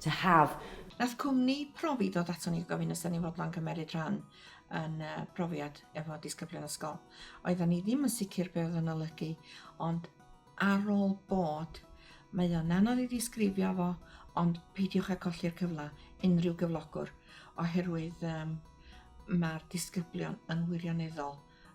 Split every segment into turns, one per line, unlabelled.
to have. Nath cwmni profi ddod ato ni gofyn os da ni'n fodlon cymeryd rhan yn y profiad efo disgyblion ysgol. Oeddan ni ddim yn sicr be oedd yn olygu, ond ar ôl bod, mae o'n anodd i ddisgrifio fo, ond peidiwch â colli'r cyfle unrhyw gyflogwr, oherwydd um, mae'r disgyblion yn wirioneddol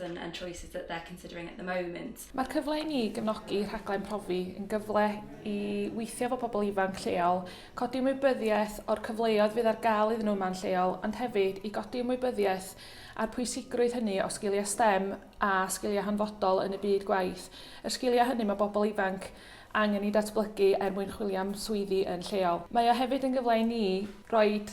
and and choices that they're considering at the moment. Mae'r cyfle i ni gefnogi rhaglen profi yn gyfle i weithio efo pobl ifanc lleol, codi ymwybyddiaeth o'r cyfleoedd fydd ar gael iddyn nhw yma'n lleol, ond hefyd i godi ymwybyddiaeth a'r pwysigrwydd hynny o sgiliau STEM a sgiliau hanfodol yn y byd gwaith. Yr sgiliau hynny mae bobl ifanc angen i datblygu er mwyn chwilio am swyddi yn lleol. Mae o hefyd yn gyfle i ni roed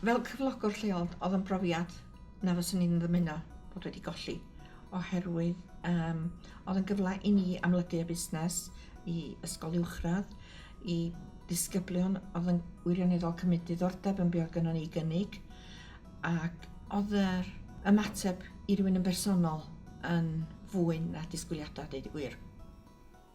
Fel cyflogwr lleol, oedd yn brofiad na fyswn i'n ddymuno bod wedi golli, oherwydd um, oedd yn gyfle i ni amlygu y busnes i ysgol uwchradd, i disgyblion oedd yn wirioneddol cymryd diddordeb yn beth gyda ni gynnig, ac oedd yr ymateb i rywun yn bersonol yn fwy na disgwyliadau, dweud y gwir.